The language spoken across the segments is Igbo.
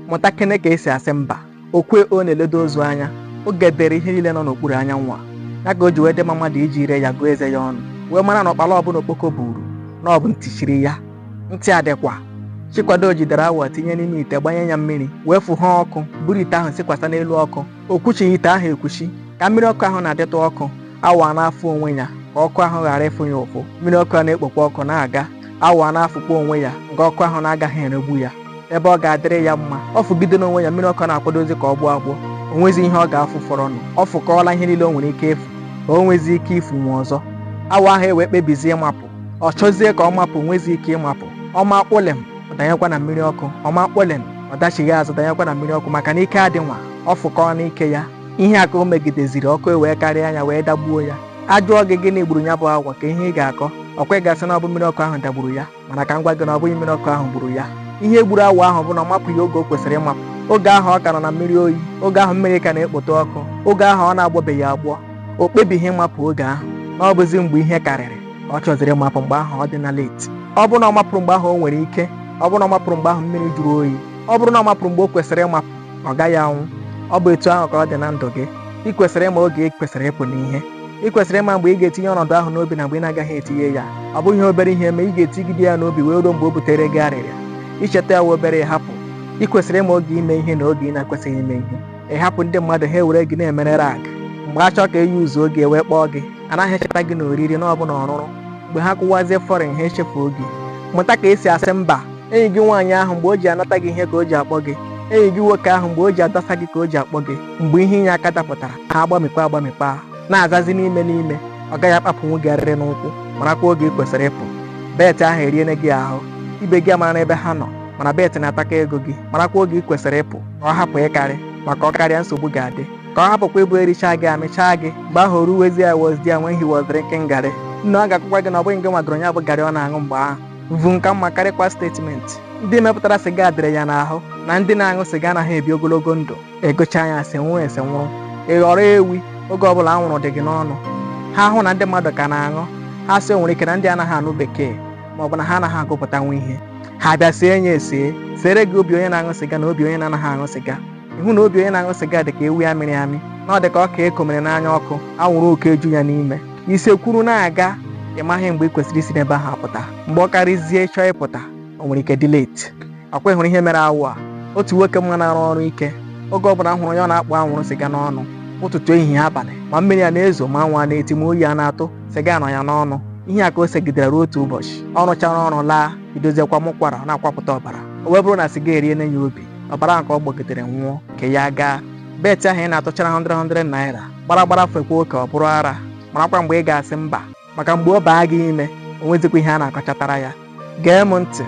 mụtakene ka esi asị mba okwe o na-eledo ozu anya oge dịịrị ihe niile nọ n'okpuru anyanwụ a ya ka o ji wee dị mma mmadụ iji ire ya gụọ eze ya ọnụ wee mara na ụkpala ọbụla okpoko buru na ọ bụ ntị chiri ya ntị adịkwa chikwado jidere awọ tinye n'ime ite gbanye ya mmiri wee fụha ọkụ buru ite ahụ sikwasa n'elu ọkụ o kwuchighị ite ahụ ekwuchi ka mmiri ọkụ ahụ na-adịtụ ọkụ awọ na-afụ onwe ya ka ọkụ ahụ ghara ịfụ ya ụfụ mmiri ọkụ a na-ekpokwa ọkụ na-aga awọ a na-afụkwa onwe ya nke ọkụ ahụ na-agaghị eregbu ya ebe ọ ga-adịrị ya mma ọ fụgidene onwe ya mmiri ọkụ na-akwadozi ka ọ gbọọ agbọ o nwezi ihe ọ ga-afụ fọrọnụ ọ fụkọọla ihe niile o nwere ike ịfụ ka o nwezi ike ịfụnwu ọzọ awọ ahụ ewee kpebizie ịmapụ ọ chọzie ka ọ mapụ o nwezi ike ịmapụ ọ maa kpụlem ọ danyekwa na mmiri ọkụ ọ maa kpụlem ọ dachigha azụ danyekwa na mmiri ọkụ maka na ike adị nwa ọ fụkọọna ike ya ihe a ka o megideziri ọkụ ewee karịa ya wee dagbuo ya a jụọ gị gịnị gburu ya bụ awọ ka ihe ị ga-akọ ọkwa ị ga-asị na ọ bụ mmiri ọkụ ahụ dagburu ya mana ka m gwa gị na ọ bụghị mmiri ọkụ ahụ gburu ya ihe gburu awọ ahụ bụ na ọ mapụghị oge o kwesịrị ịmapụ oge ahụ ọ ka nọ na mmiri oyi oge ahụ mmiri ka na-ekpota ọkụ oge ahụ ọ na-agbọbeghị agbọ o kpebighị ịmapụ oge ahụ na ọ bụzi mgbe ihe karịrị ọ chọziri ịmapụ mgbe ahụ ọ dịna late ọ bụrụ na ọ mapụrụ mgbe ahụ o nwere ike ọ bụrụ na ọ mapụrụ mgbe ahụ mmiri jụrụ oyi ọ bụrụ na ọ mapụrụ mgbe o kwesịrị ịmapụ ọ gaghị anwụ ọ bụ etu ahụ ka ọ dị na ndụ gị ị kwesịrị ịma oge ị kwesịrị ịpụ n'ihe ị kwesịrị ịma mgbe ị ga-etinye ọnọdụ ahụ n'obi na mgbe ị na-agaghị etinye ya ọ bụghị ihe obere ihe mee ị ga-etigide ya n'obi wee ruo mgbe o butere gị arịrịa i cheta ya wee obere ịhapụ ị kwesịrị ịma oge ime ihe na oge ị na-ekwesịghị ime ihe ị hapụ ndị mmadụ ha ewere gị na-emere rag mgbe a chọọ ka eyi ụzọ oge ewee kpọọ gị anaghị echeta gị na oriri na ọ bụ na ọrụrụ mgbe ha kụwazie foreign ha echefuo gị mụta ka esi asị mba enyi gị nwaanyị ahụ mgbe o ji anata gị ihe ka o ji akpọ gị enyi gị nwoke ahụ mgbe o ji adasa gị ka o ji akpọ gị mgbe ihe inye aka dapụtara ha agbamikpa agbamikpa na-azazi n'ime n'ime ọ gaghị akpapụnwu gị arịrị n'ụkwụ marakwa oge ị kwesịrị ịpụ bet ahụ eriene gị ahụ ibe gị amarana ebe ha nọ mana bet na-atakọ ego gị marakwa oge ị kwesịrị ịpụ ka ọ hapụ ịkarị maka ọ karịa nsogbu ga-adị ka ọ hapụkwa ịbụ erichaa gị amịchaa gị mgbe ahụ ruwezie I was there when he was drinking garị nne ọ ga-agwakwa gị na ọ bụghị gị nwa gọrọ ya bụ garị ọ na-aṅụ mgbe ahụ bụ nka mma karịkwa statement ndị mepụtara siga dere ya n'ahụ na ndị na-aṅụ siga anaghị ebi ogologo ndụ ị gụchaa nya sị nwụọ ese anwụrụ ị ghọrọ ewi oge ọbụla anwụrụ dị gị n'ọnụ ha hụ na ndị mmadụ ka na-aṅụ ha sị o nwere ike na ndị anaghị anụ bekee ma ọ bụ na ha anaghị agụpụtanwu ihe ha bịa see ya ese sere gị obi onye na-aṅụ siga na obi onye na-anaghị aṅụ siga ịhụ na obi onye na-aṅụ sịga dị ka ewu a mịrị amị na ọ dị ka ọka e komere n'anya ọkụ anwụrụ ọkụ eju ya n'ime i sekwuru na-aga ị maghị mgbe ị kwesịrị isi n'ebe ahụ apụta mgbe ọ karịzie ị chọọ ịpụta o nwere ike dị late ọ kwa ị hụrụ ihe mere awọ a otu nwoke m ma na-arụ ọrụ ike oge ọ bụla m hụrụ ya ọ na-akpụ anwụrụ sịga n'ọnụ ụtụtụ ehihie abalị ma mmiri a na-ezo ma anwụ a na-eti ma oyi a na-atụ sịga nọ ya n'ọnụ ihe a ka o segidere ruo otu ụbọchị ọ rụchara ọrụ laa bidozie kwama ụkwara na-akwapụta ọbara o wee bụrụ na sịga eriene ya obi ọbara ahụ ka ọ gbọgidere nwụọ nke ya gaa bet ahụ ị na-atụchara 100 naira gbara gbara fekwa oke ọ bụrụ ara marakwa mgbe ị ga-asị mba maka mgbe ọ baa gị ime o nwezikwa ihe a na-akọchatara ya gee m ntị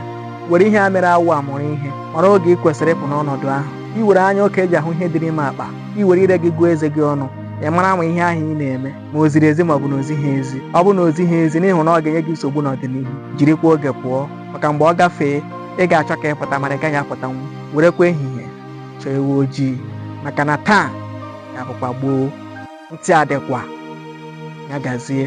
were ihe a mere awọ a mụrụ ihe mara oge ị kwesịrị ịpụ n'ọnọdụ ahụ i were anya oke eji ahụ ihe dị n'ime akpa i were ire gị gụọ eze gị ọnụ ị mara ma ihe ahụ ị na-eme ma o ziri ezi ma ọ bụ na o zighị ezi ọ bụ na o zighị ezi n'ihi na ọ ga-enye gị nsogbu n'ọdịnihu jirikwa oge pụọ maka mgbe ọ gafee ị ga-achọ ka ị pụta mana ị gaghị apụtanwu werekwa ehihie chọọ ewu ojii maka na taa ga-abụkwa gboo ntị adịkwa ya gazie